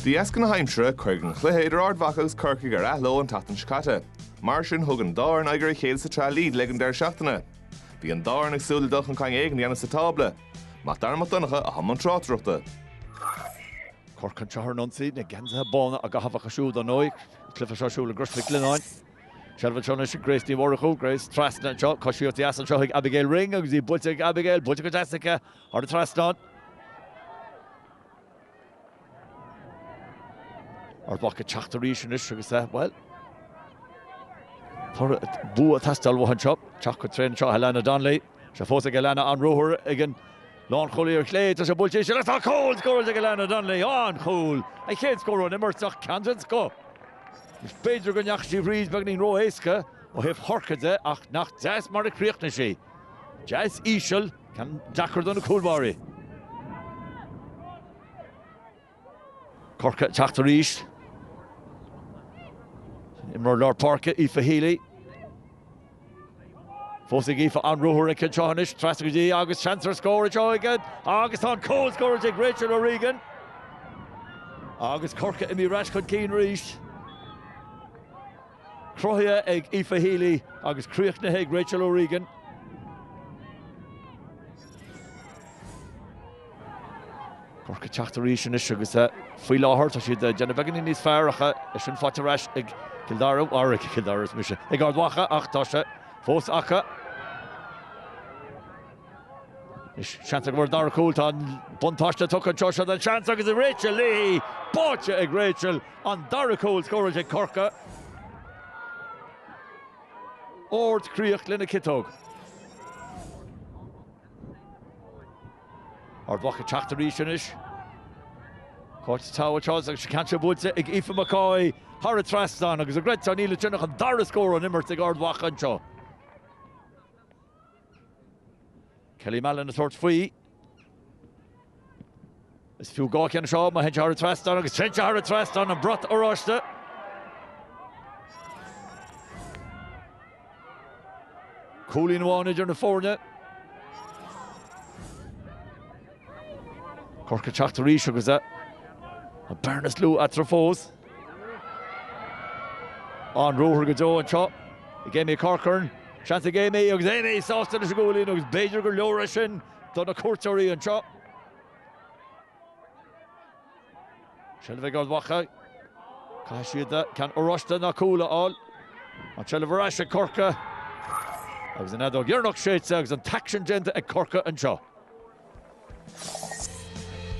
De dheasca na haimsire, cuireadh an cluiche idir Ard Mhacha agus Corcaigh ar athló an tseachtain seo caite. Mar sin, thug an dá fhoireann aghaidh ar a chéile sa tsraith Lidl ag an deireadh seachtaine. Bhí an dá fhoireann ag súil le dul chun cinn éigin a dhéanamh sa tábla. Mac Dara Mac Donncha i mbun na tráchtaireachta. Corcaigh an treo seo ag ionsaí, na geansaithe bána á gcaitheamh acu siúd ar ndóigh. An cluiche seo ar siúl i gCrois Mhic Lionnáin. Seilbh anseo anois ag Grace Ní Mhurchú. Grace trasna anseo, coisíocht dheas anseo chuig Abigail Ring agus í buailte ag Abigail, buailte go deas aici. Thar an trasnán. Ard Mhacha ag teacht arís anois agus eh, bhuel, tá bua ag teastáil uathu anseo, teacht go tréan anseo, Helena Donnelly, sé fós ag Helena, an-ruathar ag an lánchúlaí ar chlé, tá sé buailte arís agus tá cúl scóráilte ag Helena Donnelly, an-chúl, a chéad scór ón imirt ach ceann den scoth. Is b'fhéidir go ndeachaigh sí thríd beagáinín ró-éasca ó thaobh Chorcaigh de ach nach deas mar a chríochnaigh sí. Deas íseal. Ceann deacair do na cúlbáirí. Corcaigh teacht arís an t-imreoir lár páirce, Aoife Healy. Fós ag Aoife an-ruathar aici anseo anois, trasna go dtí agus seans ar scór anseo againn agus tá an cúl scóráilte ag Rachel O'Regan agus Corcaigh imithe ar ais chun cinn arís. Cruthaithe ag Aoife Healy agus críochnaithe ag Rachel O'Regan. Corcaigh teacht arís anois agus faoi láthair tá siad ag déanamh beagáinín níos fearr ach leis sin faighte ar ais ag Cill Dara, ar ag Cill Dara arsa mise, ag Ard Mhacha ach tá sé fós acu. Seans ag Corcaigh ar an dara cúl, tá an buntáiste tugtha anseo, seo an seans agus is Rachel Leahy, buailte ag Rachel, an dara cúl scóráilte ag Corcaigh. Ardchríoch lena ciotóg. Ard Mhacha ag teacht arís anois. Cáit Towe anseo agus is ceann seo buailte ag Aoife McCoy thar an trasnán agus creidtear nó ná creidtear an dara scór ón imirt ag Ard Mhacha anseo. Kelly Mallon ag tabhairt faoi. Is fiú dhá cheann seo, má théann sé thar an trasnán agus téann sé thar an trasnán, an brat oráiste. Cúilín amháin idir na foirne. Corcaigh ag teacht arís agus an bhearna is lú eatarthu fós. An-ruathar go deo anseo ag Amy Corcoran. Seans ag Amy agus Amy sásta leis an gcúilín agus b'fhéidir gur leor é sin do na cuairteoirí anseo. Seilbh ag Ard Mhacha. Caithfidh siad eh, ceann oráiste nó cúl a fháil. An tseilbh ar ais ag Corcaigh. Agus an fheadóg dheireanach séidte agus an t-aicsean déanta ag Corcaigh anseo.